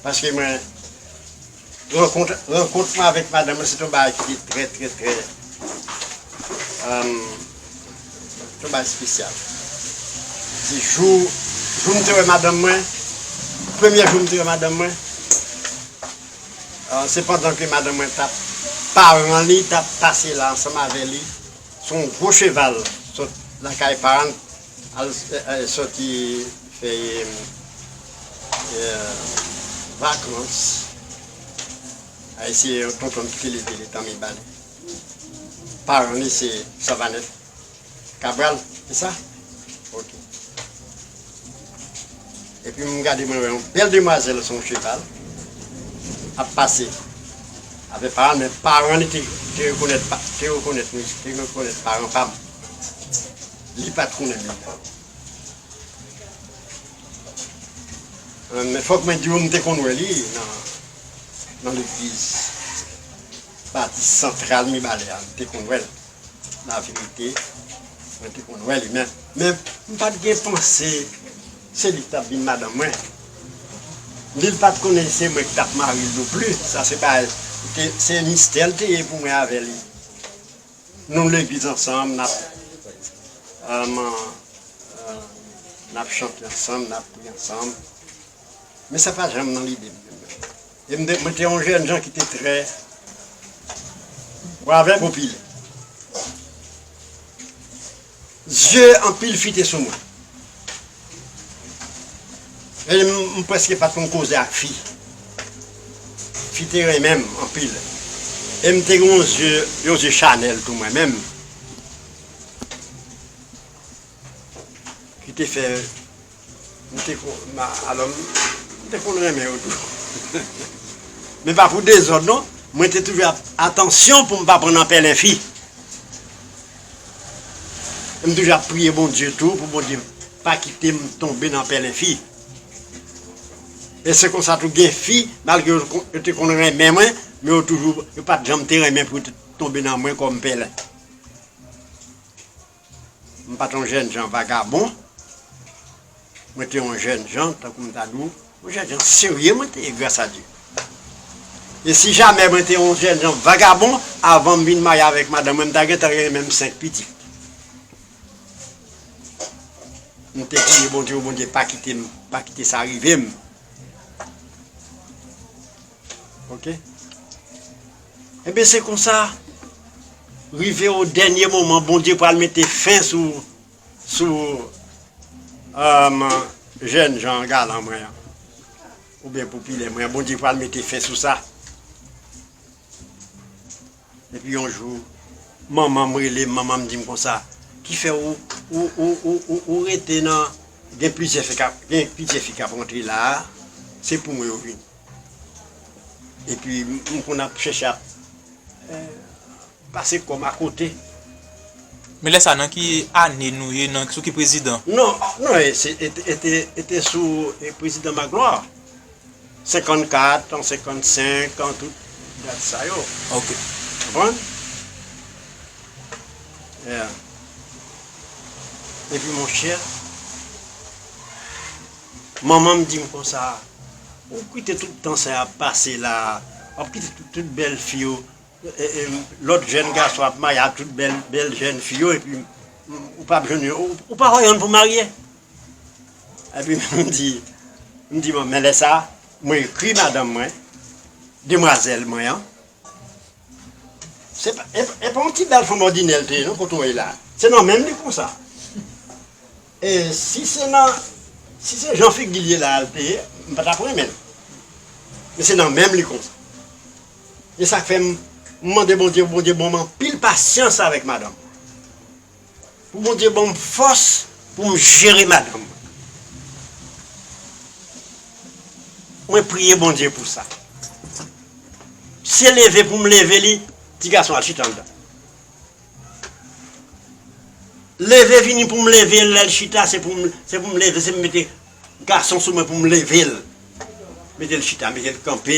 Paske mwen rankont mwen avèk madanm lan se te yon bagay ki te trè trè trè se te yon bagay spesyal. Se jou jou m te wè madanm mwen premyè jou m te wè madanm mwen se pandan ke madanm mwen tap paran li tap pase la ansanm avè li se yon gwo cheval sot lakay paran l. Al sòti fè vakans. Al eseye yon tontonm ki te leve letan Mibalè. Paran li se Savanèt Kabral, se sa? Ok. Epi m gade mwen wè yon bèl demwazèl sou yon cheval ap pase avè paran l men paran li te rekonèt paran pa m. Li pat konnen li menm. Men fòk mwen diw m te konn wè li nan legliz batis santral mibalè a, m te konn wèl la verite mwen te konn wè li men m pat gen panse se li ki tap vin madanm mwen. Li li pat konnen se mwen ki tap maril non plis, sa se bagay se mistè li te ye pou mwen avè li. Nou legliz ansanm nap aman nap chante ansanm nap priye ansanm men sa pa janm nan lidem e m mwen te yon jènjan ki te trè bravè popilè. Zye anpil fi te sou mwen. M prèske pa t konn koze ak fi. Fi te renmen m anpil. E m te gen yon zye, yon zye chanèl tou mwen menm. Ki te fè. M te konn alò m te konn renmen yo tou men pa pou dezòd non mwen te toujou ap atansyon pou m pa pran nan pèlen fi e m toujou ap priye Bondye tou pou Bondye pa kite m tonbe nan pèlen fi e se konsa tou gen fi malgre yo te konn renmen mwen men yo toujou yo pat janm te renmen pou yo te tonbe nan mwen kòm pèlen. M pa t yon jènjan vagabon. Mwen te yon jènjan, tankou m ta di w, yon jènjan serye mwen te ye gras a Dye. E si jamè mwen te yon jènjan vagabon, avan m vin marye avèk madanm mwen, m ta gentan genyen menm senk pitit. M te priye Bondye pou Bondye pa kite m, pa kite sa rive m. Ok. Ebyen se konsa rive o dènye moman Bondye pral mete fen sou sou jèn jan galan mwen an oubyen popilè mwen an Bondye pral mete fen sou sa epi yon jou manman m rele m manman m di m konsa ki fè ou ou rete nan gen plizyè fi kap gen plizyè fi kap rantre la se pou mwen yo vini. Epi m konn ap chèche ap pase kò m akote. Men lè sa nan ki ane nou ye, nan sou ki prezidan? Non, non e se e te e te sou prezidan Magloire. 54 an 55 an tout dat sa yo. Ok. Konprann? Yeah. Epi monchè. Manman m di m konsa, Ou kite tout tan sa ap pase la a, w ap kite tout bèl fi yo, lòt jèn gason ap marye ak tout bèl jèn fi yo epi ou pa p jwenn yon, ou pa wè yonn pou w marye? Epi m di, m di manman, men lè sa a, mwen ekri madanm mwen, demwazèl mwen an, se pa yon ti bèl fanm òdinè l te ye non kote w ye la a, se nan men m li konsa. E si se nan si se jan figil ye la al peye m pa tap renmenl men se nan menm li konsa e sak fè m mande Bondye pou Bondye banm anpil pasyans avèk madanm mwen pou Bondye banm fòs poum jere madanm mwen mwen priye Bondye pou sa se leve poum leve li ti gason an chita andan. Leve vini pou m leve l lè l chita se pou m leve se m mete gason sou mwen pou m leve l mete l chita mete l kanpe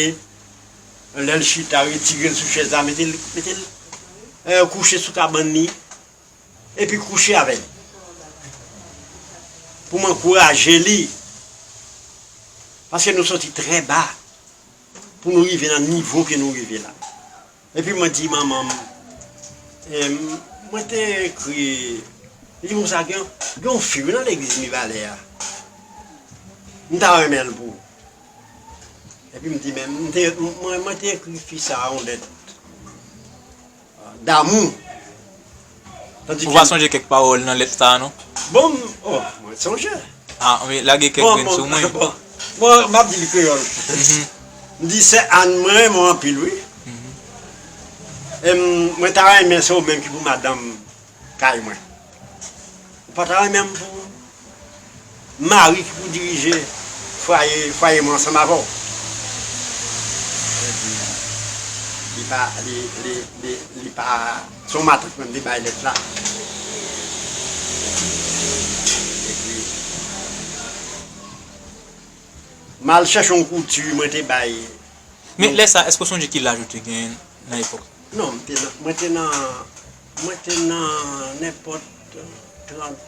lè l chita retire l sou chèz la mete l mete l kouche sou kabann li epi kouche avè l pou m ankouraje li paske nou soti trè ba pou nou rive nan nivo ke nou rive la. Epi mwen di manman m, mwen te ekri, li di konsa gen yon fi wi nan legliz Mibalè a, m ta renmen l pou ou. Epi m di men, mwen te ekri fi sa a yon lèt damou. Ou va sonje kèk pawòl nan lèt sa a non? Bon, oh, mwen sonje. Ah, anben, lage kèk grenn sou mwen. Bon, bon, bon, m ap di l kreyòl. M di, Sè Ann, mwen renmen w anpil wi. E mwen ta renmen se ou menm ki pou madanm kay mwen. Ou pa ta renmen m pou Mari ki pou dirije fwaye fwaye mwen ansanm avè w. Li pa li li li li pa se yon matant menm li bay lèt la. Epi m al chèche yon kouti mwen te bay. Men lè sa èske w sonje ki laj ou te gen nan epòk sa? Non m te nan mwen te nan mwen te nan nenpòt 30.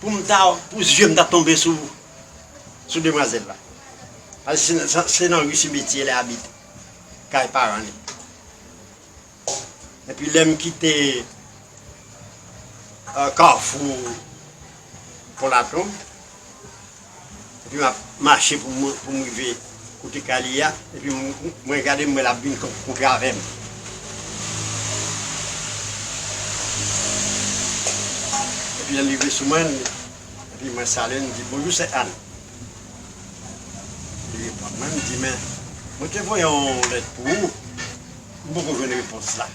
Poum ta pou zye m ta tonbe sou sou demwazel la paske se nan rue cimetier li abite kay paran li epi lem kite carrefour pont laprade Epi map mache pou m rive kote kay li a epi mwen gade m wè lap vin konpe avèm. Epi lèl rive sou mwen epi mwen salye l m di bonjou sè Anne. Li reponn mwen li di men mwen te voye yon lèt pou ou m poko jwenn repons la.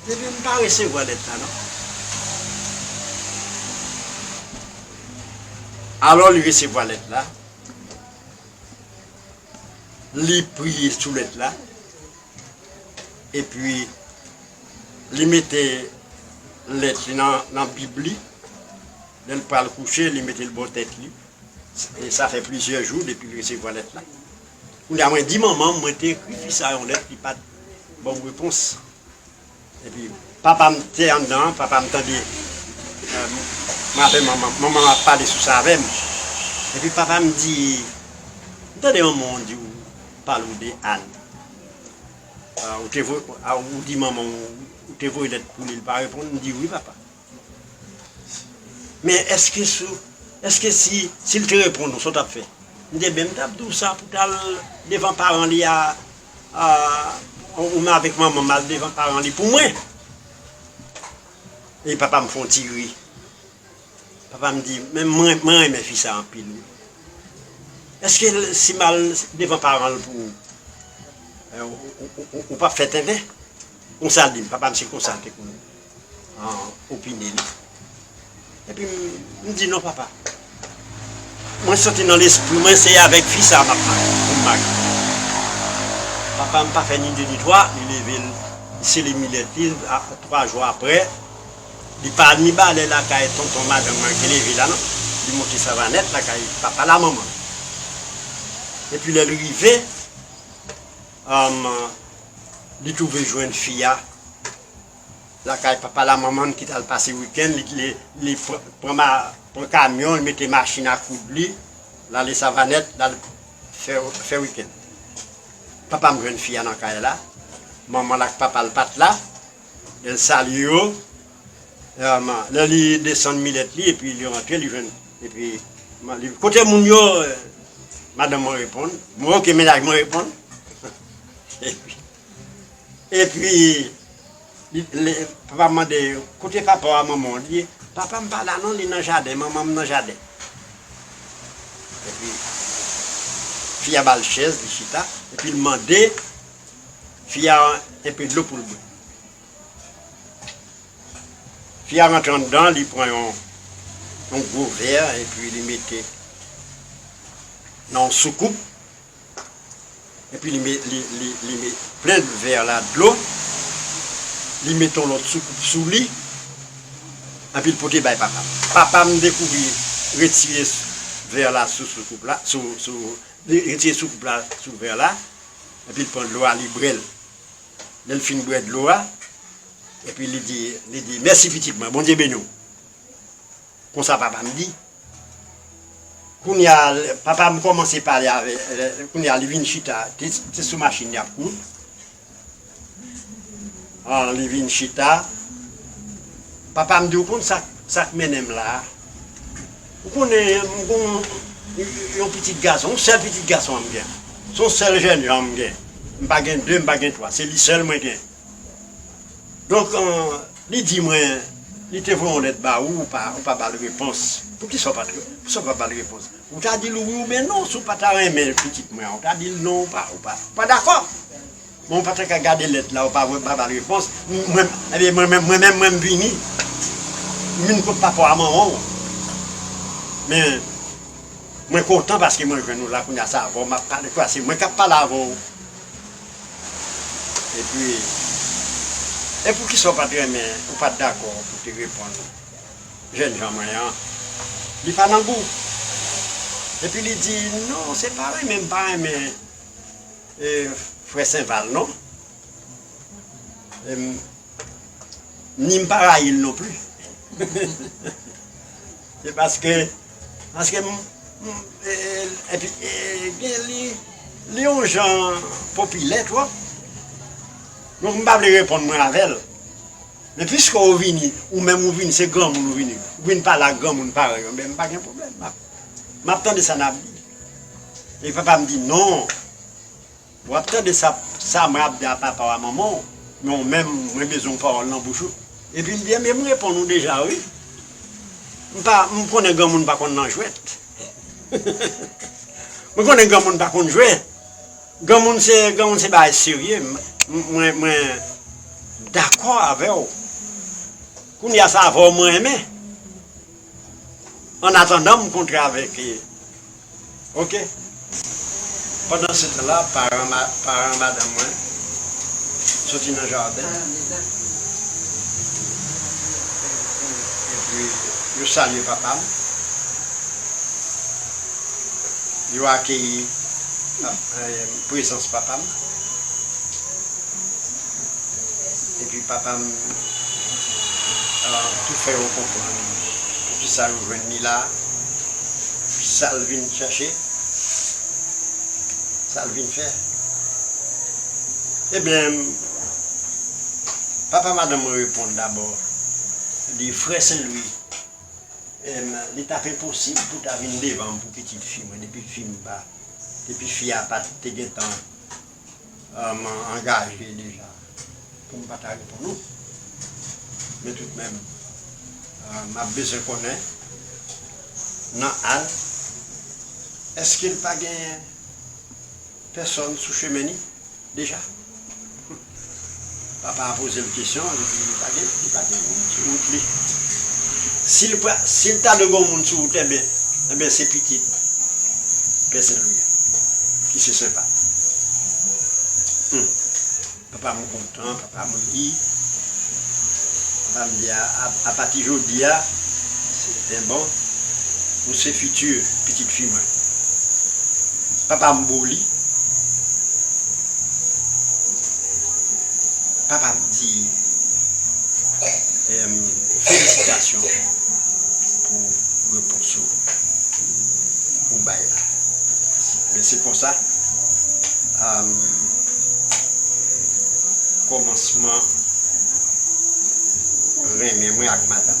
Depi m pa resevwa lèt la non. Alò li resevwa lèt la, li priye sou lèt la, epi li mete lèt li nan bib li, lè l pral kouche li mete l bò tèt li, sa fè plizyè jou depi l resevwa lèt la. Kounya mwen di manmanm mwen te ekri fi sa yon lèt li pat banm repons epi papam te anndan papam tande mwen avè manman manmanm ap pale sou sa avèm epi papam di m tande manmanw diw pale ou de Anne ou te voye ou di manmanw ou te voye lèt pou li li pa reponn m di wi papa. Men eske sou, eske si, si l te reponn ou sa w tap fè? M te menm tap di w sa pou w tal devan paran li a ou menm avèk manman m al devan paran li pou mwen. E papa m fon ti ri. Papa m di, men mwen renmen fi sa anpil wi. Eske si m al devan paran l pou ou, ou pap fè tenten? Konsa l di m, papa m se konsa l te konn. an opine li. Epi m di non papa. Mwen santi nan lespri mwen se avèk fi sa a m ap marye, pou m marye. Papa m pa fè ni de ni twa, li leve l, li sele milèt li, twa jou aprè, li pa ni balè lakay tonton madanm nan ki leve la non, li monte Savanèt lakay papa l a manman l. Epi lè l rive, li twouve jwenn fi a. lakay papa l a manman l ki t al pase wikenn li pran kamyon l mete machin a koud li l ale savanèt l al fè wikenn papa m jwenn fi a nan kay la manman l ak papa l pa t la lè l salye yo lè li desann milèt li epi li rantre li jwenn epi kote moun yo madanm mwen reponn mwen ok mennaj mwen reponn epi Epi papa mande kote papa w a manman w? Li di papa m pa la non li nan jaden manman m nan jaden. Epi fi a ba l chèz li chita epi l mande fi a enpe dlo pou l bwe. Fi a rantre anndan li pran yon gwo vè epi li mete nan yon soukoup. epi li met li li li met plen vè la dlo li met yon lòt soukoup sou li epi l pote bay papa m papa m dekouvri retire vè la sou soukoup la sou sou li retire soukoup la sou vè la epi l pran dlo a li bwè l lè l fin bwè dlo a epi li di li di mèsi pitit mwen Bondye beni w. Konsa papa m di. Kounya papa m kòmanse pale avè, kounya li vin chita, se sou machin y ap koud. An li vin chita, papa m di ou konn sa k mennen m la a? Ou konnen m gen yon pitit gason, yon sèl pitit gason m gen. Se yon sèl jènjan m gen. M pa gen de, m pa gen twa, se li sèl mwen gen. Donk li di mwen li te voye yon lèt ba ou, ou pa ba l repons. Poukisa ou pa ba l repons? Ou ta di l wi oubyen non. Si w pa ta renmen pitit mwen an, ou ta di l non, ou pa dakò. Men ou pa ta ka gade lèt la, ou pa ba l repons. Ebyen mwen menm, mwen menm m vini, m vin kot papa w ak manman w. Men mwen kontan paske mwen jwenn ou la kounye a, se avè w m ap pale, kwa se mwen k ap pale avè w. Epi, e poukisa ou pa t renmen, ou pa t dakò pou w te reponn jènjan mwen an? Li pa nan gou. Epi li di, non, se pa renmen m pa renmen frè Senval non. Ni m pa rayi l nonpli. Se paske, paske m, m, epi gen li, li yon jan popilè twòp, donk m pa vle reponn mwen avè l. Men piske ou vini, ou menm ou vini, se granmoun ou vini, ou vini pale ak granmoun parèy ou, m pa gen pwoblèm, m ap, m ap tande sa n ap di. Epi papa m di non. Wap tande sa sa mwen ap di a papaw a manmanw men ou menm mwen bezwen yon pawòl nan bouch ou epi m di enben m reponn ou deja wi m pa m konnen granmoun pa konn nan jwèt m konnen granmoun pa konn jwe granmoun se granmoun se bagay serye mwen mwen dakò avèw kounya sa avèw mwen renmen. an atandan m kontre avèk e ok pandan se tan la paran paran madanm mwen soti nan jaden epi yo salye papa m yo akeyi prezans papa m Epi papa m tou fè yo konprann poukisa yo jwenn li la, sa l vin chèche, sa l vin fè. Ebyen, papa madanm mwen reponn dabò, li di, Frè Senlwi, li t ap enposib pou w ta vin devan m pou pitit fi mwen depi fi m pa, depi fi a pa te gentan. Mwen angaje deja pou m pa ta reponn ou. Men toutmenm, m ap bezwen konnen, nan Al, èske l pa gen pèsonn sou chemen li deja? Papa a poze l kesyon an, li di li pa gen, li pa gen moun sou wout li. Si l pa, si l ta dwe gon moun sou wout enben, enben se pitit Pè Sen Lwi an ki se Sen Pat. Hum! Papa mwen kontan, papa mwen ri. Papa m di a, a pati jodi a. Eh bon? Ou se futur pitit fi mwen. Papa m bo li. Papa m di eh felisitasyon pou repons ou ou bay la. Men se konsa am komansman renmen mwen ak madanm.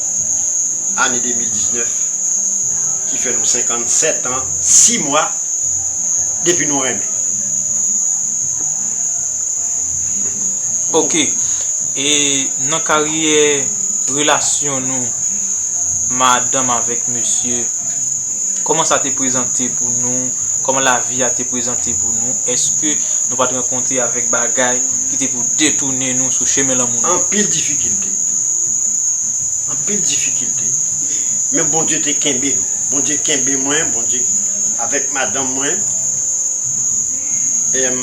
ane 2019 ki fè nou 57 an 6 mwa depi nou renmen. Ok, e nan karyè relasyon nou madanm avèk mesye, kòman sa te prezante pou nou, kòman lavi a te prezante pou nou, èske nou pa t rankontre avèk bagay ki te pou detounen nou sou chemen lanmou nou? Anpil difikilte. Anpil difikilte men Bondye te kenbe nou Bondye kenbe mwen Bondye avèk madanm mwen em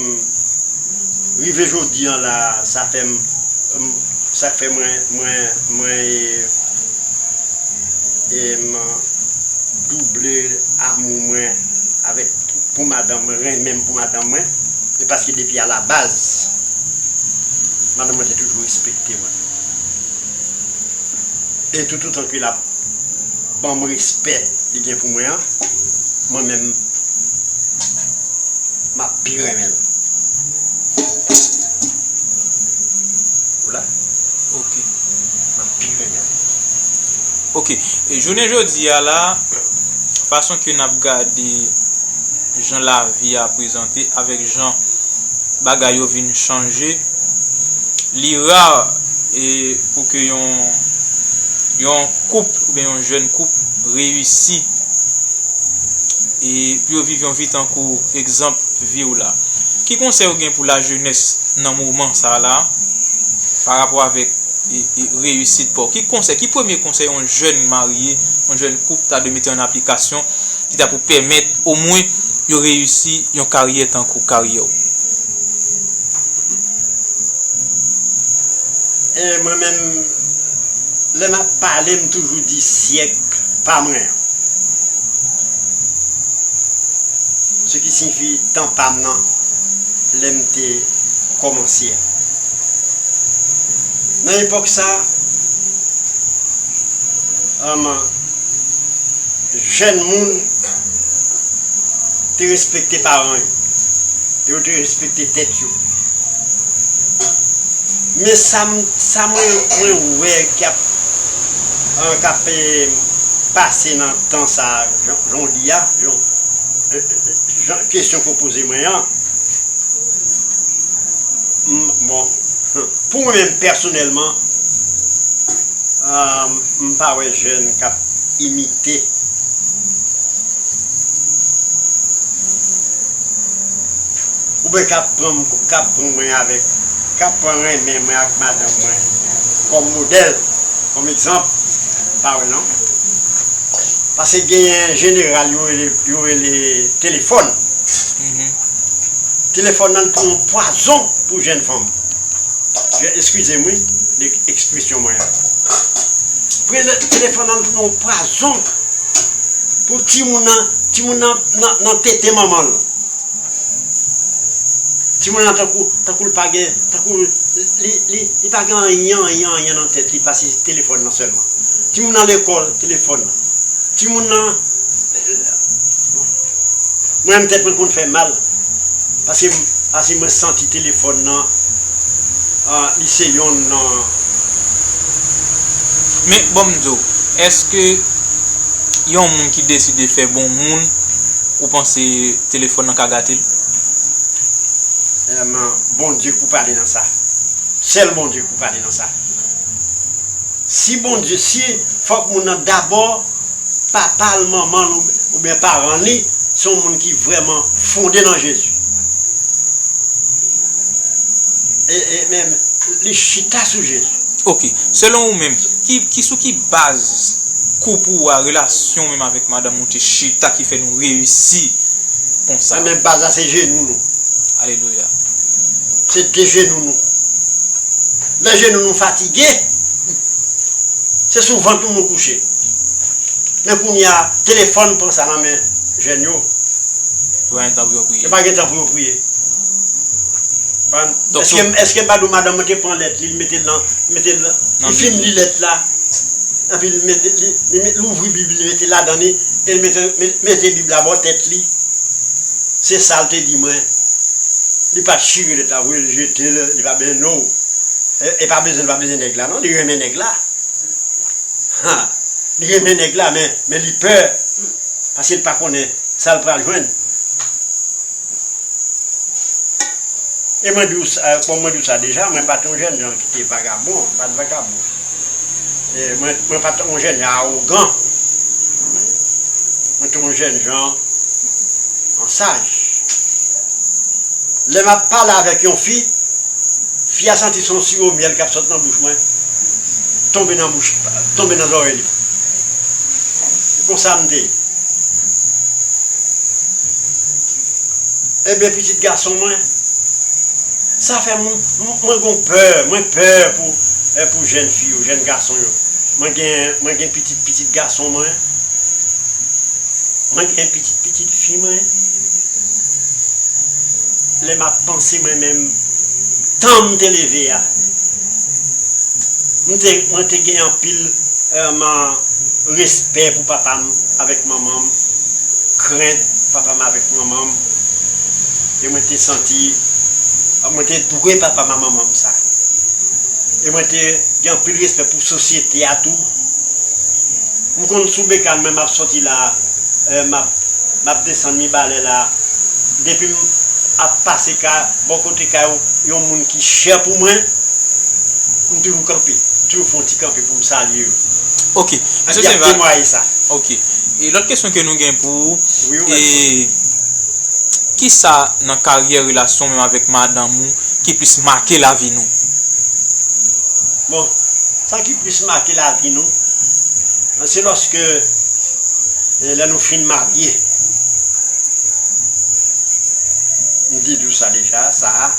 rive jodi an la sa fèm sak fè mwen mwen mwen em double amou mwen avèk pou madanm mwen renmenm pou madanm mwen e paske depi a la baz madanm mwen te toujou respekte. respekte mwen. E toutotan ke lap banm respè li gen pou mwen an, mwen menm map pi renmen l. Ou la? Ok. Map pi renmen l. Ok. Jounen jodi a la, fason ke nap gade jan lavi a prezante avèk jan. bagay yo vin chanje li rare pou ke yon yon koup oubyen yon jèn koup reyisi pou yo viv yon vi tankou egzanp vi w la ki konsèy ou gen pou la jenès nan moman sa la pa rapò avèk reyisit pa w ki konsèy ki premye konsèy yon jèn marye yon jèn koup ta dwe mete an aplikasyon ki ta pou pèmèt omwen yo reyisi yon karyè tankou karyè w. E mwen menm, lè m ap pale m toujou di syèk pa mwen an, se ki siyifi tan pa m nan lè m te kòmanse a. Nan epòk sa a, jèn moun te respekte paran yo, yo te respekte tèt yo. Men sa mwen wè ki ap pase nan tan sa a, jan w di a, jan kesyon ke w poze mwen an, bon, pou mwen menm pèsonèlman, M pa wè jeune kap imite ou ben kap pran kap pran mwen avek kap pran renmen mwen ak madanm mwen kom model kom egzanp m pa wè non pase genyen jeneral yo rele yo rele telefon telefon nan li pran yon pwazon pou jenn fanm. Eskize m wi de ekspresyon mwen an. Prezan telefòn nan tounen yon pwazon pou timoun nan, timoun nan nan tete manman l. Timoun nan tankou, tankou l pa gen, tankou li, li, li pa gen anyen, anyen, anyen nan tèt li pase telefòn nan sèlman. Timoun nan lekòl, telefòn nan. Timoun nan, bon, mwen menm tèt mwen konn fè m mal. Pase pase mwen santi telefòn nan li se yonn nan. Men bon m di w eske yon moun ki deside fè bon moun ou panse telefòn nan ka gate l? Sèlman Bondye k pou pale nan sa. Sèl Bondye k pou pale nan sa. Si Bondye si fòk moun nan dabò. papa l, manman l oubyen paran li se yon moun ki vrèman fonde nan Jezi e menm li chita sou Jezi. Ok, selon ou menm, ki sou ki baz koup ou a, relasyon ou menm avèk madanm ou te chita ki fè nou reyisi konsa? Ebyen baz la se jenou nou. Alelouya. Se de jenou nou. Lè jenou nou fatige. Se sou vant nou nou kouche. Men kounye a, telefòn pran sa nan men jèn yo. Yo pa gen tan pou yo priye. Yo pa gen tan pou yo priye. Eske m pa di w madanm lan te pran lèt li, li mete l nan, li fin li lèt la, epi li louvri Bib li, li mete l ladan li, e li mete Bib la bò tèt li? Se sa l te di mwen. Li pa t chire lèt la voye l jete l, li pa bezwen. No. E pa bezwen, li pa bezwen. renmen nèg la non li renmen nèg la ha li renmen nèg la men men li pè paske li pa konnen sa li pral jwenn e mwen diw sa bon mwen diw sa deja mwen pat yon jènjan ki te vagabon mwen pat vagabon e mwen mwen pat yon jènjan awogan mwen te yon jènjan yon saj lè map pale avèk yon fi. Fi a santi son siwo myèl kap sot nan bouch mwen tonbe nan bouch tonbe nan zòrèy li se konsam te ye ebyen pitit gason mwen sa fè mwen gon pè mwen pè pou jèn fi yo jèn gason yo mwen gen mwen gen pitit pitit gason mwen mwen gen pitit pitit fi mwen. Lè m ap panse mwen menm tan m te leve a, mwen te gen anpil man respè pou papa m avèk manman m, krent papa m avèk manman m e mwen te santi mwen te dwe papa m a manman m sa. E mwen te gen anpil respè pou sosyete a tou. M konn sou bekal mwen m ap soti la a. Eh map map desann mibalè la depim ap pase ka bò kote kay yon moun ki chè pou mwen m toujou kanpe m toujou fon ti kanpe poum salye yo Ok Mesye Epi yap Sevas temwaye sa. Ok e lòt kesyon ke nou gen pou ou Wi ou mèt e poze. kisa nan karyè relasyon menm avèk madanm ou ki plis make lavi nou? Bon sa ki plis make lavi nou se lòske. E lè nou fin marye, m di nou sa deja, sa a,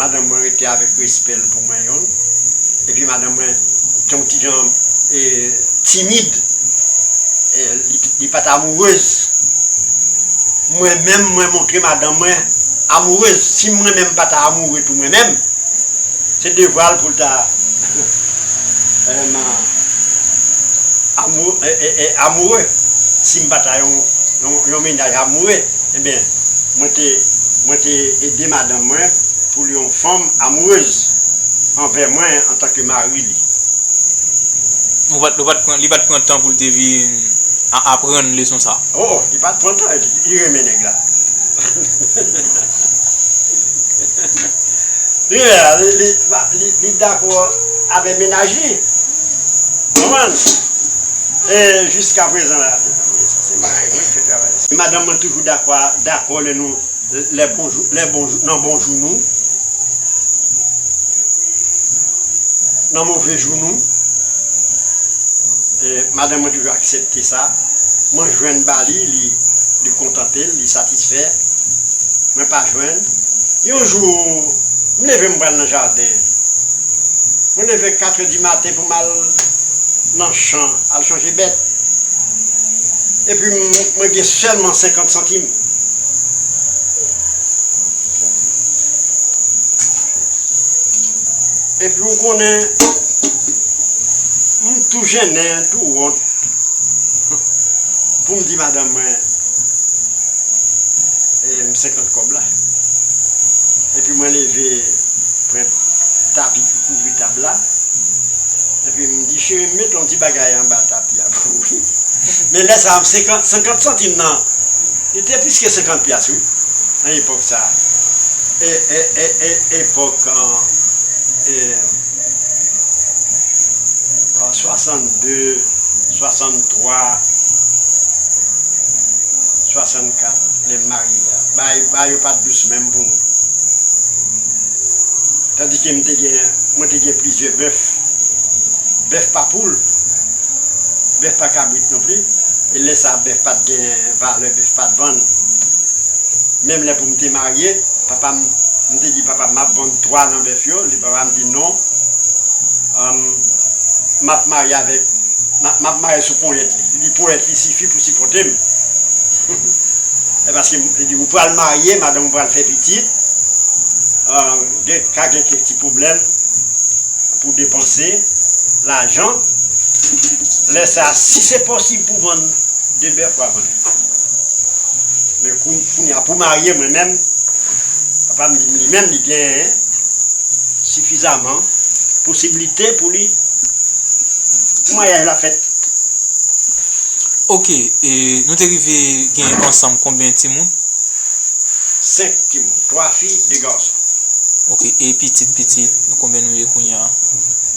madanm mwen rete avèk respè l pou mwen yon, epi madanm mwen te yon ti jan timid, li pa t amourez. Mwen menm, mwen montre madanm mwen amourez. Si mwen menm m pa ta amoure tou mwen menm, se devwa l pou l ta. Elma amoure sim pa ta yon mennaj amoure ebyen mwen te ede madanm mwen pou li yon fanm amourez anvè mwen antanke mari li. Li pat pran tan poul te vin aprann leson sa. Oh li pat pran tan li renmen nèg la. Li dakò avè mennaj li. Konprann? E jiska prezan la. Madanm mwen toujou dakwa, dakò lè nou lè bonjou, lè bonjou, nan bon jou nou. Nan move jou nou. E madanm mwen toujou aksepte sa. Mwen jwenn ba li, li kontante'l, li satisfè. Mwen pa jwenn. Yon jou, m leve m pral nan jaden. Mwen leve katrè di maten pou m al nan chan al chanje bèt. Epi mwen gen sèlman senkant santim. Epi ou konnen, m tou jennen, tou wont pou m di madanm mwen. m 50 kòb la epi mwen leve pran tapi ki kouvri tab la epi m di cheri m met yon ti bagay anba tapi a pou ou wi men lè sa m 50 50 santim nan li te plis ke 50 pyas wi nan epòk sa e e e e epòk an e An 62, 63, 64 lè m marye a, bagay yo pa t dous menm pou nou. Tandike m te gen, mwen te gen plizyè bèf. Bèf pa poul, bèf pa kabrit non pli, e lè sa a bèf pa t gen valè, bèf pa t vann. Menm lè pou m te marye. Papa m, m te di papa m, m ap vann twa nan bèf yo. Li, papa m di non, m ap marye avèk, m ap mare sou ponyèt li. Li di ponyèt li sifi pou sipòte m. E paske m, li di ou pral marye, madanm ou pral fè pitit, gen, ka gen kèk ti pwoblèm pou depanse lajan. Lè sa a, si se posib pou vann de bèf, w a vann li. Men kou m. Kounya pou marye mwen menm papa m di m li menm li genyen sifizaman posiblite pou li pou maryaj la fèt. Ok e nou te rive genyen ansanm konbyen timoun? 5 timoun, 3 fi, 2 gason. Ok e pitit pitit nou konbyen nou ye kounya?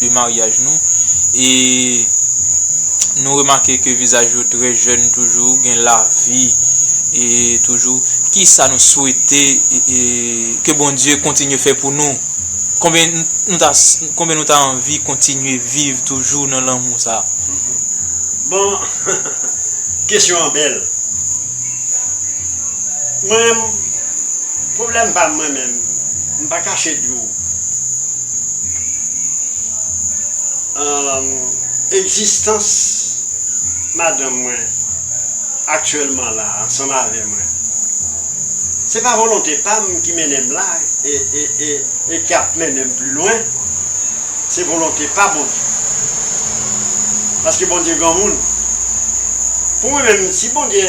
de maryaj nou e nou remake ke vizaj yo trè jèn toujou, gen lavi toujou. Kisa nou swete ke Bondye kontinye fè pou nou? Konbyen nou ta anvi kontinye viv toujou nan lanmou sa? Bon, kesyon an bèl. Mwen menm, pwoblèm pa m mwen menm, m pa kache di w, Egzistans madanm mwen aktyèlman la a ansanm avè mwen, se pa volonte pa m ki mennen m la e ki ap mennen m pli lwen, se volonte pa Bondye. Paske Bondye granmoun. Pou mwen menm, si Bondye,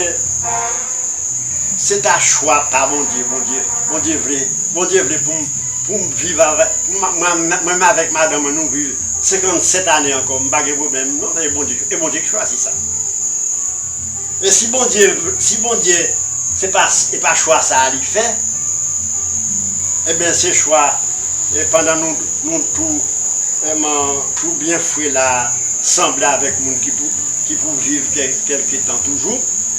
se ta chwa pa Bondye, Bondye, Bondye vle, Bondye vle pou m. Pou m viv avè, pou m mwen menm avèk madanm mwen nou viv 57 ane ankò m pa gen pwoblèm non se Bondye e Bondye ki chwazi sa e si Bondye vl si Bondye se pa e pa chwa sa a li fè eben se chwa e pandan nou nou tou eman tou byen fre la a sanble avèk moun ki pou ki pou viv kèlke tan toujou.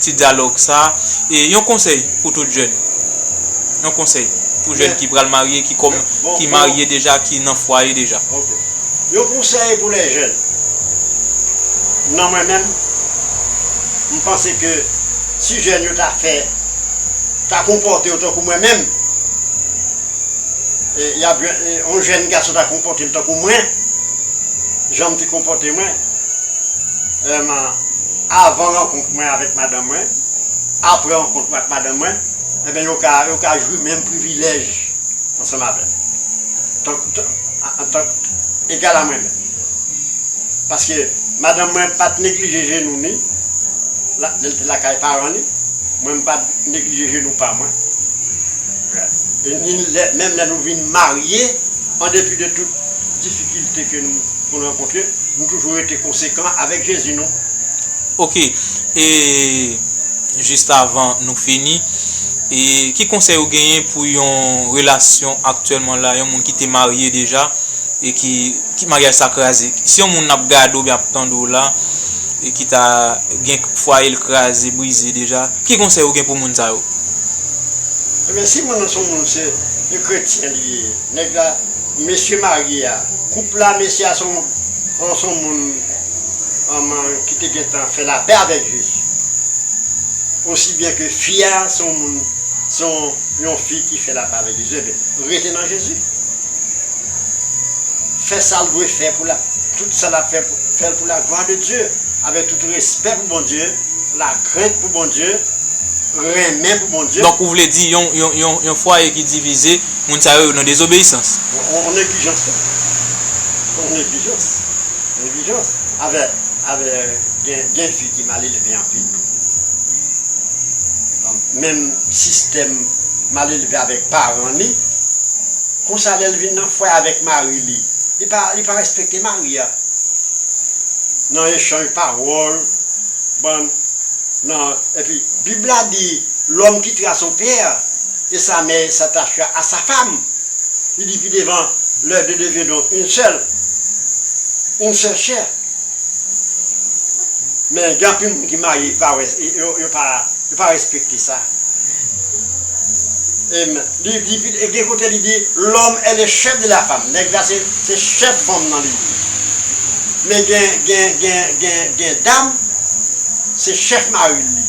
ti dyalòg sa e yon konsèy pou tout jèn yon konsèy pou jèn ki pral marye ki kòm ki marye deja ki nan fwaye deja. Ok yon konsèy pou lè jèn nan mwen menm m panse ke si jèn yo ta fè ta konpòte yo tankou mwen menm yap jwenn yon jèn gason ta konpòte l tankou mwen janm te konpòte mwen avan rankont. mwen avèk madanm mwen, apre rankont mwen ak madanm mwen, enben yo ka yo ka jwi menm privilèj ansanm avè m, tank antank egal a mwen menm. Paske madanm mwen pa t neglije jenou ni la lè l te lakay paran li, mwen m pa neglije jenou pa mwen, ni lè menm lè nou vin marye, an depi de tout. difikilte ke nou konn rankontre, nou toujou rete konsekan avèk Jezi nou. Ok e jis avan nou fini e ki konsèy ou genyen pou yon relasyon aktyèlman la yon moun ki te marye deja e ki ki maryaj sa kraze si yon moun ap gade ou byen ap tande w la e ki ta gen fwaye l kraze brize deja ki konsèy ou gen pou moun sa yo? Ebyen si moun nan son moun se yon kretyen li ye. Nèg la mesye marye a. Koup la mesye a son on son moun anman ki te gentan fè lapè avèk Jezi. Osi byen ke fi a son moun son yon fi ki fè lapè avèk Jezi enben rete nan Jezi. Fè sal dwe fè pou la tout sa lap fè fèl pou la glwa de Dye avèk tout respè pou Bondye, lakrent pou Bondye, renmen pou Bondye. Donk ou vle di yon yon yon yon fwaye ki divize Moun sa yo nan dezobeyisans. Yon neglijans tou. Yon neglijans. Neglijans. Avè, avè gen, gen fi ki mal elve anpil. Menm sistèm mal elve avèk paran li. Konsa lè l vin nan fwaye avèk mari li, li pa, li pa respekte mari a. Nan echanj pawòl, bann, nan, epi Bib la di, lòm kitera son pè. E sa mè sa t'achua a sa fam, li di pi devan, Leurs deux deviendront une seule, une seule chair. Men gen anpil moun ki marye yo pa wè, yo pa, yo pa respekte sa. E li di pi, gen kote li di, L'homme est le chef de la femme, nèg la se, se chèf fanm nan li ye. Men gen, gen, gen, gen, gen dam, se chèf mari'l li ye.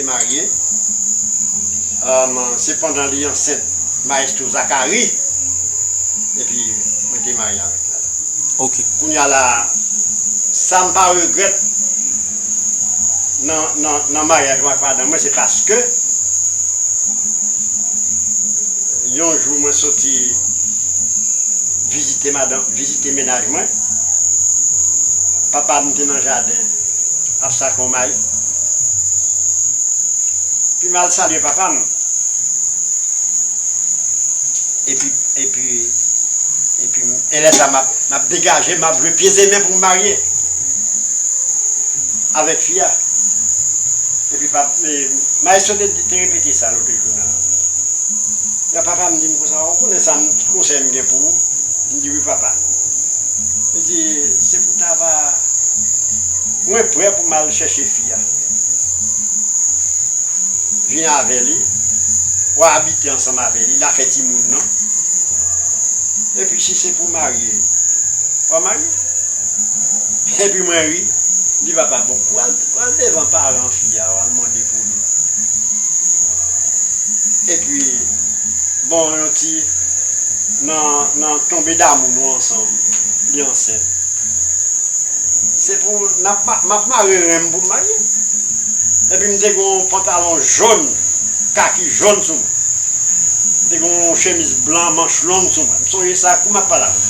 te marye se pandan li ansent maestro Zakari epi mwen te marye avèk madanm kounya la sam pa regrèt nan maryaj mwen ak madanm mwen se paske yon jou mwen soti vizite madanm vizite mennaj mwen papam te nan jaden ap sake yon mayi. Pi mal salye papa m epi epi epi m e lè sa m ap degaje m ap jwe pieds et mains pou m marye avèk fi a epi pap maestro te repete sa lote jou nan nan papa m di m konsa ou konnen sa m ki konsèy m gen pou ou m di wi papa li di se pou ta va. Mwen prè pou m al chèche fi a. Vin avè li. W a abite ansanm avè li. L a fè timoun nan. Epi si se pou w marye, w a marye. Epi mwen ri. M di papa a, bon, w al devan paran fi a, w al mande pou li. Epi, bon yon ti nan tonbe damou nou ansanm, li ansent. Se pou nap map mare ren m pou m marye epi m te gen yon pantalon jòn kaki jòn sou mwen m te gen yon chemiz blan manch long sou mwen m sonje sa kou map pale avèw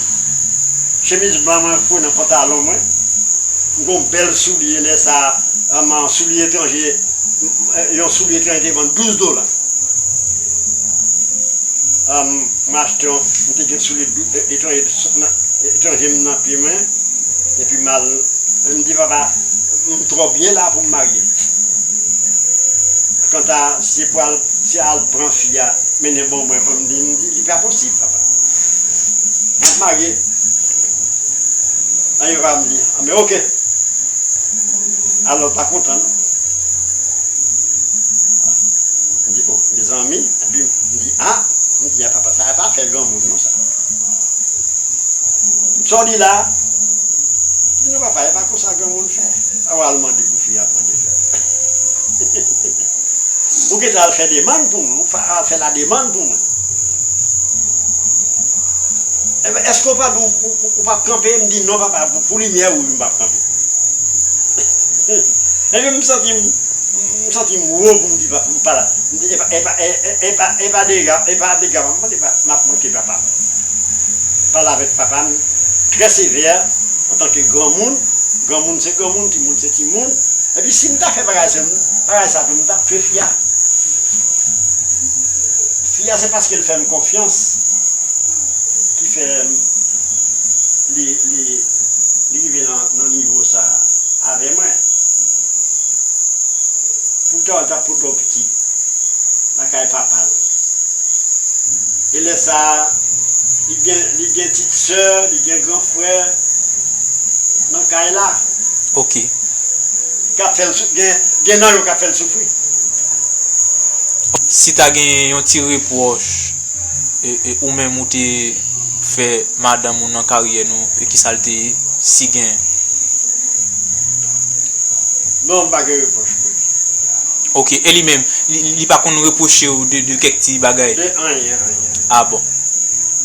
chemiz blan mwen foure nan pantalon mwen m gen yon bèl soulye lè sa man soulye etranje yon soulye etranje te vann 12 dola m achte yon m te gen soulye Etranje m nan pye mwen epi m al m di papa m twò byen la pou m marye. Kanta si se pou al si al pran fi a mennen ban mwen pou m di li pa posib papa. M ap marye. Epi papa m di a men oke. Alò l pa kontan non. M di o mezanmi. Li a, m di a papa sa pa fè granmoun non sa. Sa w di la? Di non papa e pa konsa granmoun fè. Sa w al mande pou fi a pran de fèt. Ou gentan al fè demann pou mwen, ou al fè la demann pou mwen. Enben eske w pa di w pap kanpe? M di non papa pou limyè ou wi m pap kanpe. Enben m santi m. M santim wo pou m di papa m pa la. M di epa epa epa epa dega epa dega m ap manke m ap manke papa m. M pale avèk papa m trè sevè antanke granmoun, granmoun se granmoun, timoun se timoun. Epi si m ta fè bagay sa bagay sa tou m ta tchwe fi a. Fi a se paske l fè m konfyans ki fè li li li rive nan nivo sa avè mwen. Poutan l t ap pote yon pitit lakay papa l. E lè sa a, li gen ptit sè, li gen gran frè nan kay la. Ok. K ap fè l soufri. Gen nan yo k ap fè l soufri. Si ta gen yon ti repwòch. Ou menm ou te fè madanm ou nan karyè nou e kisa l te ye, si gen? Non, m pa gen repwòch pou li. Ok, e li menm, li pa konn repwoche ou de kèk ti bagay? De anyen, anyen. Ah bon.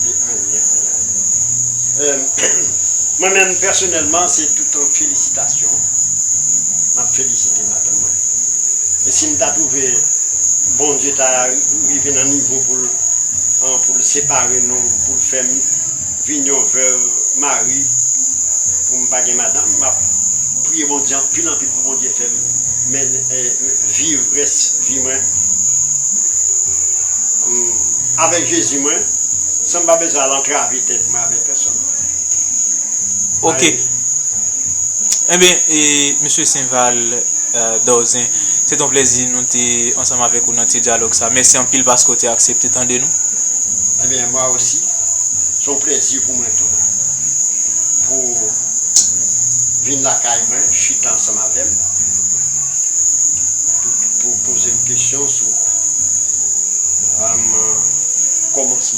De anyen, anyen, anyen. Mwen menm pèsonèlman se toutan felisitasyon m ap felisite madanm mwen e si m ta twouve. Bondye ta rive nan nivo pou l pou l separe nou pou l fè m vin yon vèv mari pou m pa gen madanm m ap priye Bondye anpil anpil pou Bondye fè m viv rès vi mwen avèk Jezi mwen san m pa bezwen al antrave tèt mwen avèk pèsòn. Enben, e Mesye Sainval Dorzen, se t on plezi nou te ansanm avèk ou nan ti dyalòg sa. Mèsi anpil paske w te aksepte tande nou. Enben, mwa osi, s on plezi pou mwen tou pou w vin lakay mwen, chita ansanm avè m, pou w poze m kesyon sou kòmansman.